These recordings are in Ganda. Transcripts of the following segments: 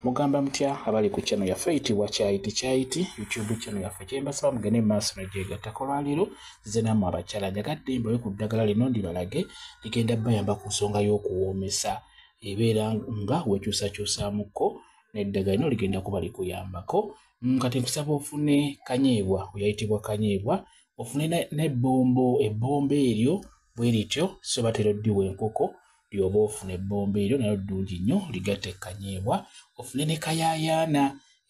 mugamba mutya abali ku channel yaffe eyitibwa kyayiti kyayiti youtube channel yaffe kyembasaba mugende mumaaso nagyegattako lwaleero zize namu abakyala njagadde mbawe ku ddagala lino ndibalage ligenda bayamba ku nsonga y'okuwoomesa ebeera nga wekyusakyusamuko neddagala lino ligenda kuba likuyambako mm, kati nkusaba ofune kanyeebwa oyayitibwa kanyeebwa ofune nebbombo ebbombo eryo bwerityo sobatera oddiwa enkoko lyoba ofuna ebbomba eryo nayo ddungi nnyo ligatta ekkanyeebwa ofune ne kayaayaana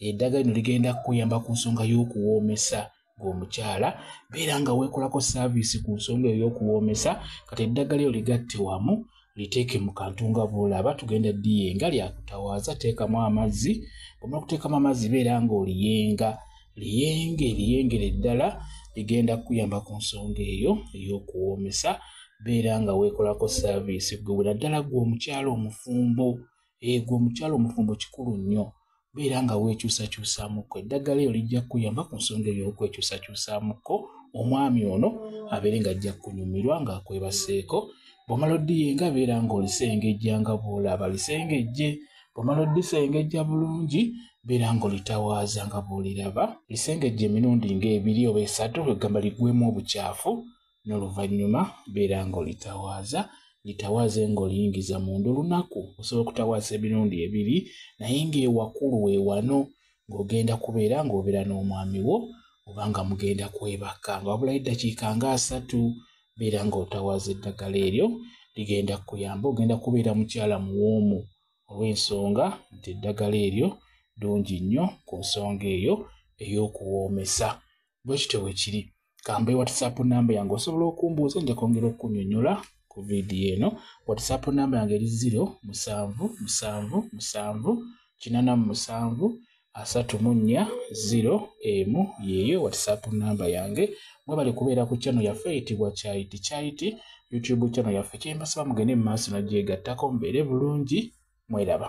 eddaga lino ligenda kukuyamba ku nsonga y'okuwoomesa ng'omukyala beera nga weekolako saaviisi ku nsonga eyo y'okuwoomesa kati eddagala eyo ligatte wamu liteeke mu kantu nga bwolaba tugenda diyenga lyakutawaaza teekamu amazzi omala okuteekamu amazzi beera ng'oliyenga liyenge liyengere eddala ligenda kukuyamba ku nsonga eyo ey'okuwoomesa beera nga weekolako saaviisi gwe bwe naddala gwe omukyalo omufumbo egwe eh, omukyalo omufumbo kikulu nnyo beera nga weekyusakyusaamuko eddagala eyo lijja kukuyamba ku nsonga eyo okwekyusakyusaamuko omwami ono abeere nga ajja kunyumirwa ng'akwebaseeko bwomala odiyenga beera ng'olisengejja nga bw'olaba lisengejje bw'omala oddisengejja bulungi beera ng'olitawaaza nga bw'oliraba lisengejja emirundi ng'ebiri oba esatu kwegamba ligwemu obukyafu n'oluvannyuma beera ng'olitawaaza litawaaze ng'oliyingiza munda olunaku osobola okutawaaza emirundi ebiri naye ng'ewakulu we wano ng'ogenda kubeera ng'obeera n'omwami wo oba nga mugenda kwebaka nga wabulayo eddakiika nga asatu beera ng'otawaaza eddagala eryo ligenda kukuyamba ogenda kubeera mukyala muwoomu olw'ensonga nti eddagala eryo ddungi nnyo ku nsonga eyo ey'okuwoomesa bwe kityo bwe kiri kambe whatsapp namba yange osobola okumbuuza nja kwongera okukunyonyola ku vidiyo eno whatsapp namba yange eri ziro musanvu musanvu musanvu kinana mu musanvu asatu mu nnya ziro emu yeeyo whatsapp namba yange mwebale kubeera ku chano yaffe eyitibwa kyayiti kyayiti youtube chano yaffe kyembasaba mugende mu maaso nagyegattako mubeere bulungi mweraba